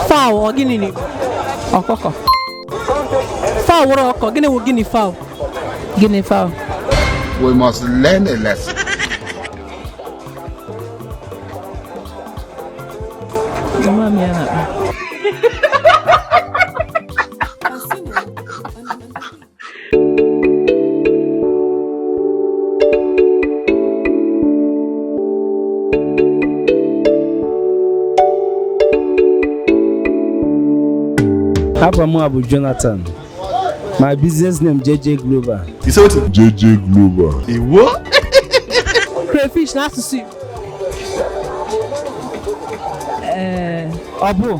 fowl ọ gịnị na ọkụkọ fowl wụrụ ọkụkọ gịnị wụ guinea fowl guinea fowl we must learn a lesson Mama m ya na-akpa Afa m bụ Jonathan. My business name JJ Global. You say wetin? JJ Global. Iwo? Crayfish n'asụsụ Igbo. Ee, eh, ọ bụ.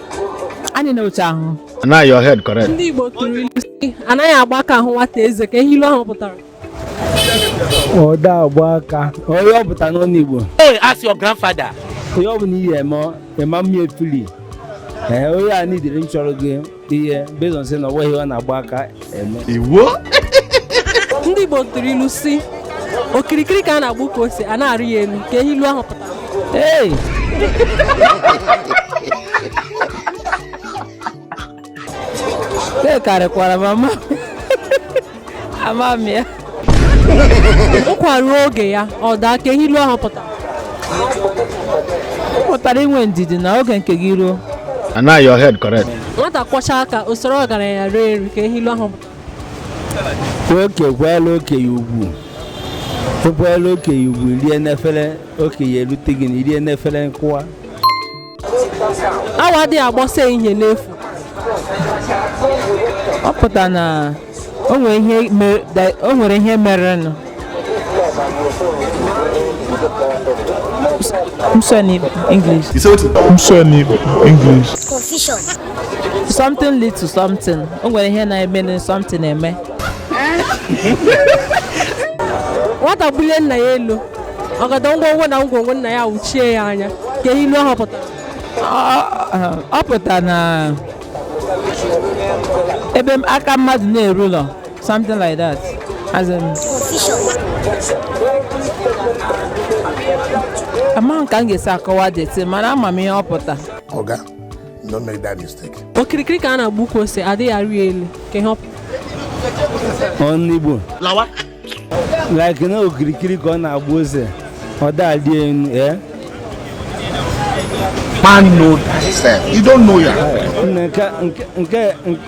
anyị na otu ahụ na your head correct ndị Igbo tụrụ ilu sị anaghị agba aka ahụ nwata eze ka ihe ilu ahụ pụtara ọ da agba aka ihe ọ pụta n'ọnụ Igbo Hey, ask your grandfather. onye ọ bụla ihe eme ịma mmiri fili ee onye a nidiri m chọrọ gị ihe based on say na ọ nweghị ọ na-agba aka iwo ndị Igbo tụrụ ilu sị okirikiri ka a na-agba ukwu ose a na-arị ya elu ka ihe ilu ahụ pụta ee e karịkwara m ama ama m ya ụkwa ruo oge ya ọ daa ka ihe ilu ahụ pụtara ọ pụtara inwe ndidi na oge nke gị ruo And now your head correct. nwata kwọcha aka o soro ọgaranya rie nri ka ihe ilu ahụ pụtara oke kwala okenye ugwu ịkwala okenye ugwu rie n'efere okenye erute gị na i rie n'efere nkụwa awọ adịghị agba ọsọ ehihie n'efu ọ pụta na o nwere ihe mere- da- o nwere ihe merenụ m sụọ n'English You say wetin? M sụọ n'English. Confusion. something lead to something o nwere ihe na-eme na something eme nwata bulie nna ya elu ọgọdọ ngwongwo na ngwongwo nna ya awụchie ya anya ka ihe ilu ahụ pụtara ọ pụtara na ebe m- aka mmadụ na-erulọ something like that as in amaghị m ka m ga-esi akọwa deti mana ama m ihe ọ pụta Oga, don't make that mistake. okirikiri ka a na-agba ukwu ose adịghị arị elu ka ihe ọ pụtara n'ọnụ Igbo. like na okirikiri ka ọ na-agba ose ọ da-adị enu ee eh? man know thyself you don't know your nke nke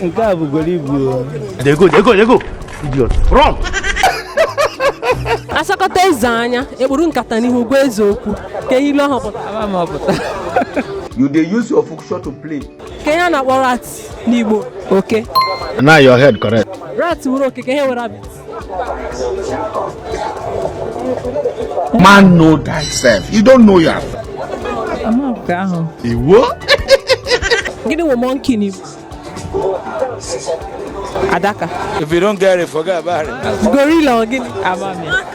nke a bụgoro ibu dey go dey go dey go idiot wrong a sọkata eze anya e kpuru nkata n'ihu gwa eze okwu kee ihe ilu ahụ pụtara you dey use your function to play kee ihe a na-akpọ rat n'Igbo oke na your head correct rat wụrụ oke kee ihe wụ rabbit man know thyself you don't know your amaghị ahụ iwo gịnị wụ monkey n'Igbo adaka if you don't get it forget about it gorilla ọ gịnị amaghị